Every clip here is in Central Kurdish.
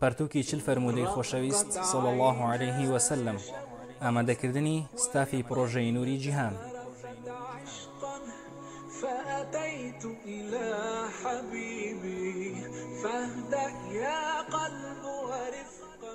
پەرتووکی چل فەرموودەی خۆشەویست صلی اللە علیه و سلم ئامادەکردنی ستافی پڕۆژەی نووری جیهان فأتيت إلى حبيبي فاهدأ يا قلب ورفقا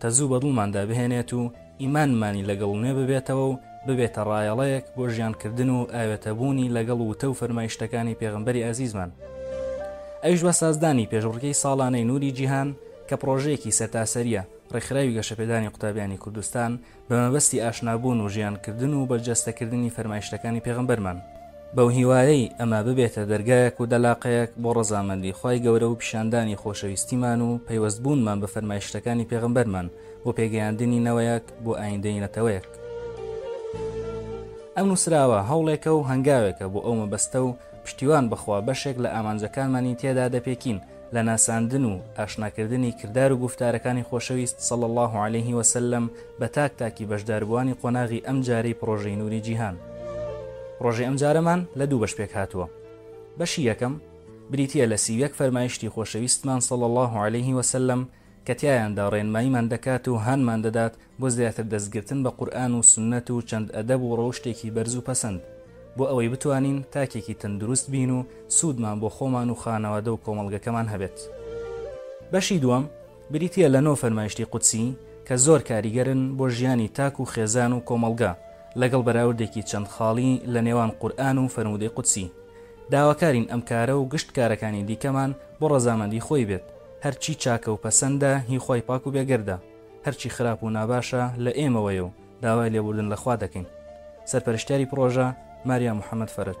تەزوو بە دڵماندا بهێنێت و ئیمانمانی لەگەڵ نوێ ببێتەوە و ببێتە ڕایەڵەیەک بۆ ژیان کردن و ئاوێتە بوونی لەگەڵ وتە و فەرمایشتەکانی پێغەمبەری ئازیزمان ئەویش بە سازدانی پێشبڕکێی ساڵانەی نووری جیهان کە پڕۆژەیەکی سەرتاسەریە ڕێکخراوی گەشەپێدانی قوتابیانی کوردستان بە مەبەستی ئاشنابوون و ژیان کردن و بەرجەستە کردنی فەرمایشتەکانی پێغەمبەرمان. بەوهیوایەی ئەمە ببێتە دەرگایەک و دەلاقەیەک بۆ ڕەزامەندی خوای گەورە و پیشاندانی خۆشەویستیمان و پەیوەست بوونمان بە فەرمایشتەکانی پێغەمبەرمان بۆ پێگەیاندنی نەوەیەک بۆ ئایندەی نەتەوەیەک. ئەم نووسراوە هەوڵێکە و هەنگاوێکە بۆ ئەو مەبەستە و پشتیوان بەخوا بەشێک لە ئامانجەکانمانی تێدا دەپێکین، لە ناساندن و ئاشناکردنی کردار و گوفتارەکانی خۆشەویست صلی اللە علیه و سلم بە تاک تاکی بەشداربووانی قۆناغی ئەم جارەی پڕۆژەی نوری جیهان. پڕۆژەی ئەم جارەمان لە دوو بەش پێک هاتووە. بەشی یەکەم بریتییە لە سی و یەک فەرمایشتی خۆشەویستمان صلی اللە علیه و سلم کە تیایاندا ڕێنماییمان دەکات و هانمان دەدات بۆ زیاتر دەستگرتن بە قورئان و سوننەت و چەند ئەدەب و ڕەوشتێکی بەرز و پەسەند بۆ ئەوەی بتوانین تاکێکی تەندروست بین و سوودمان بۆ خۆمان و خانەوادە و کۆمەڵگەکەمان هەبێت. بەشی دووەم بریتییە لە نۆ فەرمایشتی قودسی کە زۆر کاریگەرن بۆ ژیانی تاک و خێزان و کۆمەڵگە لەگەڵ بەراوردێکی چەند خاڵی لە نێوان قورئان و فەرموودەی قودسی داواکارین ئەم کارە و گشت کارەکانی دیکەمان بۆ ڕەزامەندی خۆی بێت هەرچی چاکە و پەسەندە هی خوای پاک و بێگەردە، هەرچی خراپ و ناباشە لە ئێمەوەیە و داوای لێبوردن لە خوا دەکەین. سەرپەرشتیاری پڕۆژە، ماریا محەمەد فەرەج.